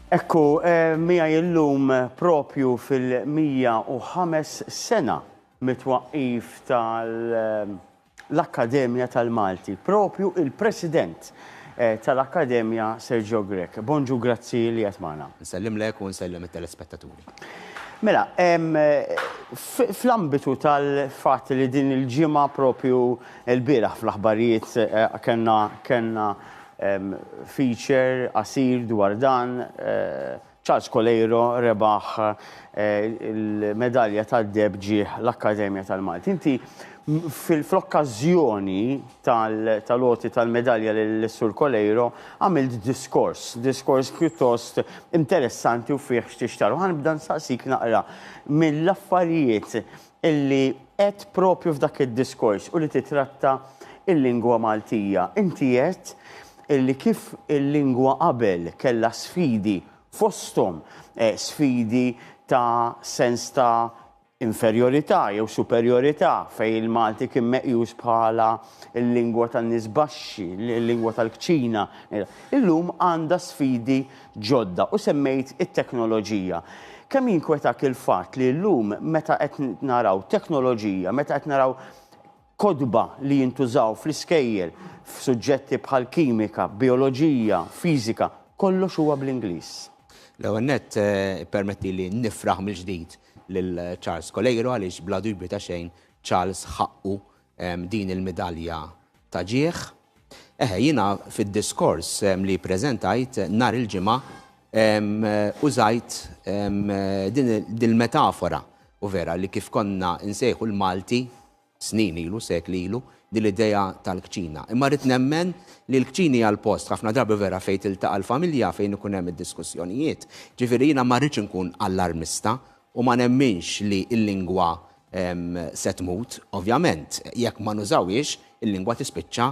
Ekku, eh, mija illum propju fil-105 sena mitwaqqif tal-Akkademja eh, tal-Malti, propju il-President eh, tal-Akkademja Sergio Grek. Bonġu grazzi li jatmana. Nsellim lek u nsellim il-telespettaturi. Mela, fl-ambitu tal-fatt li din il-ġimgħa propju l-bieraħ fl-aħbarijiet kellna kellna feature qasir dwar dan, Charles Coleiro rebaħ il-medalja tad-deheb ġie l-Akkademja tal-Malti. Inti fl-okkażjoni tal-għoti tal-medalja lis-Sur Coleiro, għamilt diskors, diskors pjuttost interessanti u fih x'tixtarr. U ħa nibda nsaqsik naqra mill-affarijiet li għedt proprju f'dak id-diskors u li titratta l-lingwa Maltija. Inti għedt li kif il-lingwa qabel kellha sfidi fosthom sfidi ta' sens ta' inferjorità jew superjorità fejn il-Malti kien meqjus bħala l-lingwa tan-nies baxxi, l-lingwa tal-kċina. Illum għandha sfidi ġodda u semmejt it-teknoloġija. Kemm jinkwetak il-fatt li llum meta qed naraw teknoloġija, meta qed naraw kotba li jintużaw fl-iskejjel f'suġġetti bħal kimika, bijoloġija, fiżika, kollox huwa bl-Ingliż. L-ewwel nett ippermettili nifraħ mill-ġdid lil Charles Coleiro għaliex bla dubju ta' xejn Charles ħaqqu din il-midalja ta' ġieħ. Eħe, jiena fid-diskors li ppreżentajt nhar il-Ġimgħa użajt din il-metafora u vera li kif konna nsejħu l-Malti snin ilu, sekli ilu, din l-idea tal-kċina. Imma rrid nemmen li l-kċin hija l-post, ħafna drabi vera, fejn tiltaqa' l-familja, fejn ikun hemm id-diskussjonijiet. Ġifieri jiena ma rridx inkun allarmista u ma nemminx li l-lingwa se tmut. Ovvjament, jekk ma nużawhiex, il-lingwa tispiċċa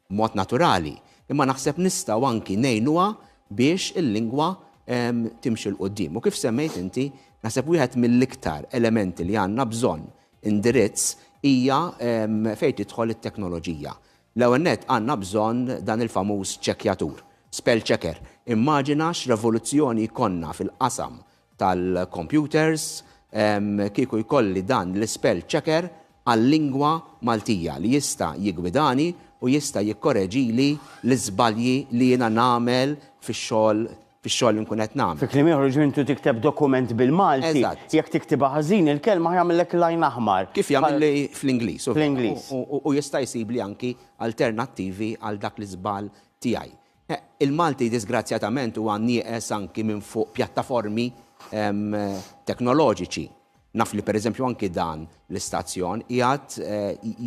B'mod naturali, imma naħseb nistgħu anki ngħinuha biex il-lingwa timxi 'l quddiem. U kif semmejt inti, naħseb wieħed mill-iktar elementi li għandna bżonn indirizz hija fejn tidħol it-teknoloġija. L-ewwel nett għandna bżonn dan il-famuż ċekkjatur, spell checker. Immaġina x'revoluzzjoni jkollna fil-qasam tal-kompjuters kieku jkolli dan l-ispell checker għal-lingwa Maltija li jista' jiggwidani u jista' jikkoreġili l-iżbalji li jiena nagħmel fix-xogħol fix-xogħol li nkun qed nagħmel. Fi kliem ieħor jiġifieri intu tikteb dokument bil-Malti. Eżatt. Jekk tiktibha ħażin il-kelma ħa jagħmillek l-għajn aħmar. Kif jagħmilli fl-Ingliż. Fl-Ingliż. U jista' jsibli anki alternattivi għal dak l-iżball tiegħi. Il-Malti diżgrazzjatament huwa nieqes anki minn fuq pjattaformi teknoloġiċi. Naf li pereżempju anki dan l-istazzjon qiegħed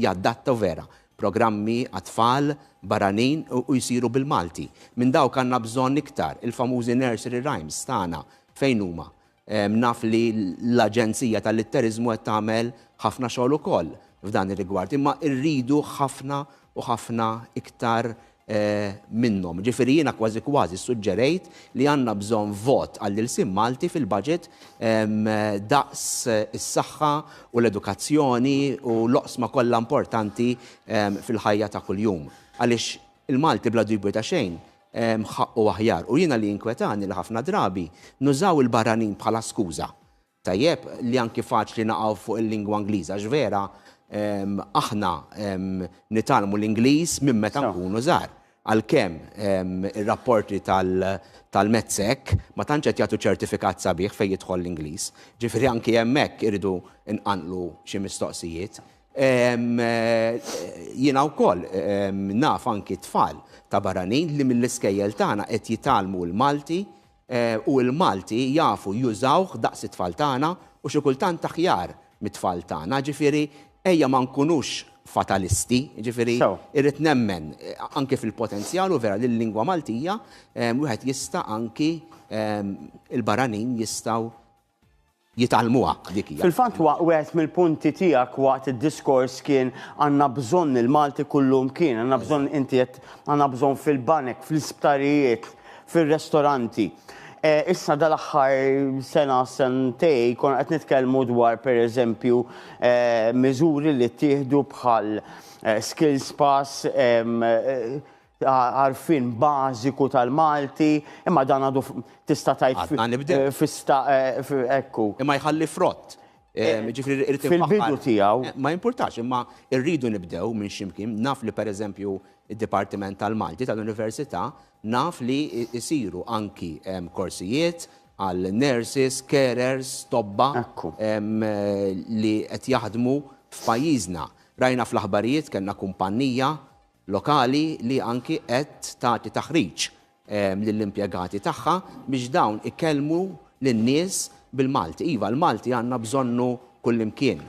jadatta, u vera, programmi għat-tfal barranin u jsiru bil-Malti. Minn dawk għandna bżonn iktar, il-famużi nursery rhymes tagħna fejn huma? Naf li l-Aġenzija tal-Litteriżmu qed tagħmel ħafna xogħol ukoll f'dan ir-rigward, imma rridu ħafna u ħafna iktar minnhom. Ġifieri jiena kważi kważi ssuġġerejt li għandna bżonn vot għall-ilsien Malti fil-budget daqs is-saħħa u l-edukazzjoni u l-oqsma kollha importanti fil-ħajja ta' kuljum. Għaliex il-Malti bla dubju ta' xejn mħaqqu aħjar. U jiena li jinkwetani li ħafna drabi nużaw il-barranin bħala skuża. Tajjeb li anki faċli naqgħu fuq il-lingwa Ingliża għax vera aħna nitgħallmu l-Ingliż minn meta nkunu żgħar. Għalkemm ir-rapporti tal-METSEC ma tantx qed jagħtu ċertifikat sabiħ fejn jidħol l-Ingliż. Ġifieri anki hemmhekk irridu nqanqlu xi mistoqsijiet. Jiena wkoll naf anki tfal ta' barranin li mill-iskejjel tagħna qed jitgħallmu l-Malti u l-Malti jafu jużawh daqs it-tfal tagħna u xi kultant aħjar mit-tfal tagħna. Ġifieri ejja ma nkunux fatalisti, ġifieri irrid nemmen anki fil-potenzjal u vera li l-lingwa Maltija wieħed jista' anki l-barranin jistgħu jitgħallmuha dik hija. Fil-fatt wa wieħed mill-punti tiegħek waqt id-diskors kien għandna bżonn il-Malti kullumkien, għandna bżonn inti għedt għandna bżonn fil-banek, fl-isptarijiet, fir-restoranti. Eh, issa dal-aħħar sena sentej konna qed nitkellmu dwar pereżempju eh, miżuri li ttieħdu bħal eh, skills pass, eh, ta' għarfien bażiku tal-Malti, imma dan għadu tista' tgħid fista ekku. Imma jħalli frott. Fil-bidu tiegħu. Ma jimpurtax, imma rridu nibdew minn ximkien. Naf li pereżempju id-Dipartiment tal-Malti tal-Università naf li jsiru anki korsijiet għal nurses, carers, tobba li qed jaħdmu f'pajjiżna. Rajna fl-aħbarijiet kellna kumpannija lokali li anki qed tagħti taħriġ lill-impjegati tagħha biex dawn ikellmu lin-nies bil-Malti. Iva, l-Malti għandna bżonnu kullimkien.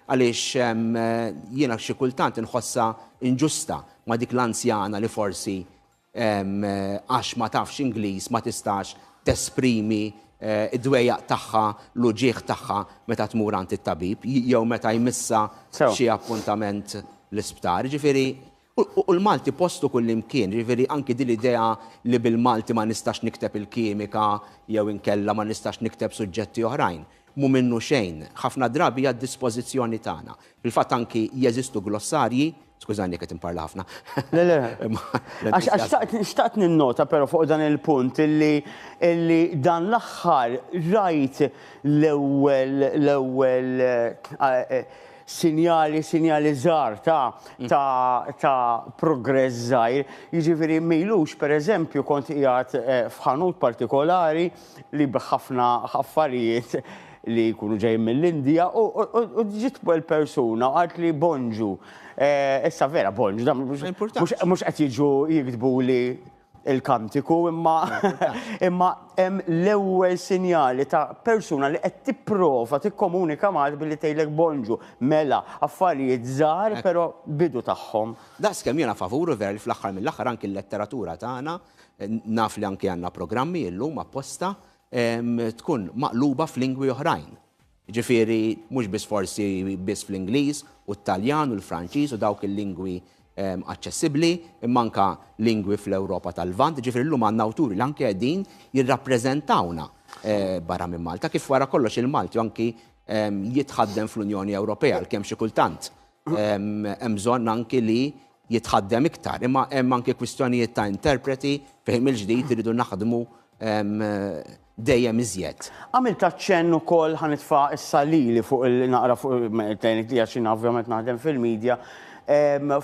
Għaliex jiena xi kultant inħossha inġusta ma' dik l-anzjana li forsi għax ma tafx Ingliż ma tistax tesprimi id-dwejjaq tagħha, l-uġigħ tagħha meta tmur għand it-tabib jew meta jmissha f'xi appuntament l-isptar. Jiġifieri, u l-Malti postu kullimkien, jiġifieri anki din l-idea li bil-Malti ma nistax nikteb il-kimika jew inkella ma nistax nikteb suġġetti oħrajn, mhu minnu xejn. Ħafna drabi hija d-dispożizzjoni tagħna. Fil-fatt anki jeżistu glossarji, skużani jekk qed inparla ħafna. Le, le. Għax xtaqt ninnota però fuq dan il-punt illi dan l-aħħar rajt l-ewwel l-ewwel sinjali sinjali żgħar ta' ta' ta' progress żgħir. Jiġifieri m'ilux pereżempju kont qiegħed f'ħanut partikolari li b'ħafna affarijiet li jkunu ġejjin mill-Indija u ġiet persuna u għalt li Bonġu. Eh, issa vera Bonġu, mhux qed jiġu jiktbu li il-kantiku imma imma hemm l-ewwel sinjali ta' persuna li qed tipprova tikkomunika mal billi tgħidlek bonġu, mela, affarijiet żgħar però bidu tagħhom. Daqskemm jiena favuru ver fl-aħħar mill-aħħar anki l-letteratura tagħna naf li anki għandna programmi illum apposta tkun maqluba f'lingwi oħrajn. Ġifieri mhux biss forsi biss fl-Ingliż u t-Taljan u l-Franċiż u dawk il-lingwi aċċessibbli, imma anka lingwi fl-Ewropa tal-Lvant, ġifieri llum għandna awturi li anke qegħdin jirrappreżentawna barra minn Malta, kif wara kollox il-Malti anki jitħaddem fl-Unjoni Ewropea għalkemm xi kultant Hemm bżonn anki li jitħaddem iktar, imma hemm anki kwistjonijiet ta' interpreti fejn mill-ġdid iridu naħdmu dejjem iżjed. Għamilt aċċenn ukoll ħa nitfa' issa lili fuq il-naqra fuq il-tgħinit li għax jiena ovvjament naħdem fil-media,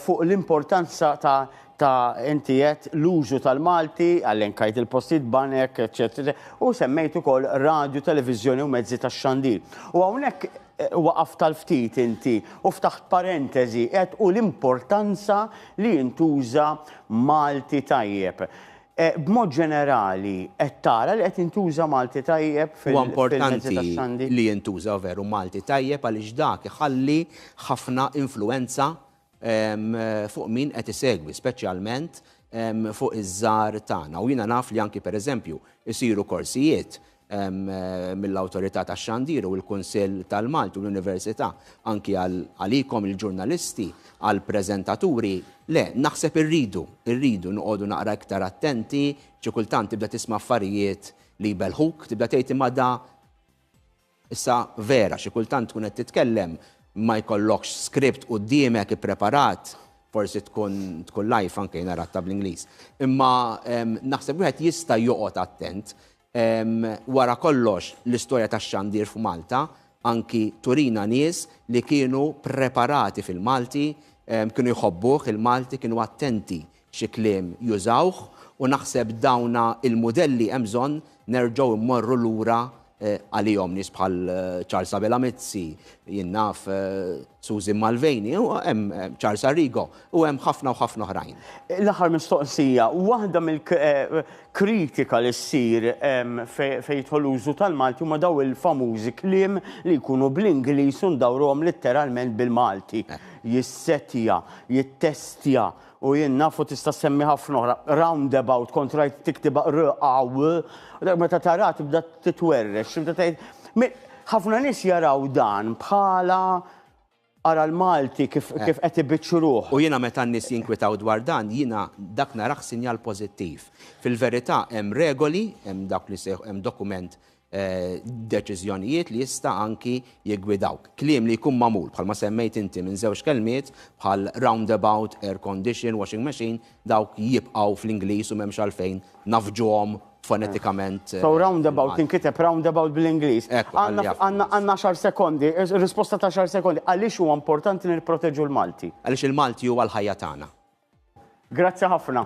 fuq l-importanza ta' ta' inti għedt l-użu tal-Malti, elenkajt il-postijiet, banek, eċċetera, u semmejt ukoll radju, televiżjoni u mezzi tax-xandir. U hawnhekk. Waqaft għal ftit inti u ftaħt parentesi għedt u l-importanza li jintuża Malti tajjeb. B'mod ġenerali qed tara li qed jintuża Malti tajjeb fil-mezzi tax-xandir? Huwa importanti li jintuża veru Malti tajjeb għaliex dak iħalli ħafna influwenza fuq min qed isegwi, speċjalment fuq iż-żar tagħna. U jiena naf li anki pereżempju isiru korsijiet mill-Awtorità tax-Xandir u l-Kunsill tal-Malti u l-Università anki għalikom il-ġurnalisti, għall-preżentaturi. Le, naħseb irridu, irridu noqogħdu naqra iktar attenti, xi kultant tibda tisma' affarijiet li jbelħuk, tibda tgħid imma da Issa vera, xi kultant tkun qed titkellem ma jkollokx script quddiemek ippreparat, forsi tkun tkun live anke jiena ratha bl-Ingliż. Imma naħseb wieħed jista' joqgħod attent. Wara kollox, l-istorja tax-xandir f'Malta anki turina nies li kienu ppreparati fil-Malti, kienu jħobbuh il-Malti, kienu attenti xi kliem jużawh u naħseb dawna il-mudelli hemm bżonn nerġgħu mmorru lura għalihom, nies bħal Charles Abela Mizzi, jien naf Susan Mulvaney, hemm Charles Arrigo u hemm ħafna u ħafna oħrajn. L-aħħar mistoqsija, waħda mill-kritika li ssir fejn jidħol użu tal-Malti huma dawn il-famużi kliem li jkunu bl-Ingliż u ndawruhom litteralment bil-Malti, jissettja, jittestja, U jien naf u tista' ssemmi ħafna oħra, roundabout, kont rajt tiktibha r a w, meta taraha tibda titwerrex, tibda tgħid. Ħafna nies jaraw dan bħala ara l-Malti kif qed ibiċċruh. U jiena meta n-nies jinkwitaw dwar dan, jiena dak narah sinjal pożittiv. Fil-verità hemm regoli, hemm dawk li jsejħu hemm dokument deċiżjonijiet li jista' anki jiggwidawk. Kliem li jkun magħmul bħalma semmejt inti minn żewġ kelmiet bħal roundabout, air condition, washing machine, dawk jibqgħu fl-Ingliż u m'hemmx għalfejn nafġuhom fonetikament. So eh, roundabout inkiteb roundabout bl-Ingliż. Għandna xar sekondi, eh, risposta ta' xar sekondi, għaliex huwa importanti nirproteġu l-Malti? Għaliex il-Malti huwa l-ħajja tagħna. Grazzi ħafna.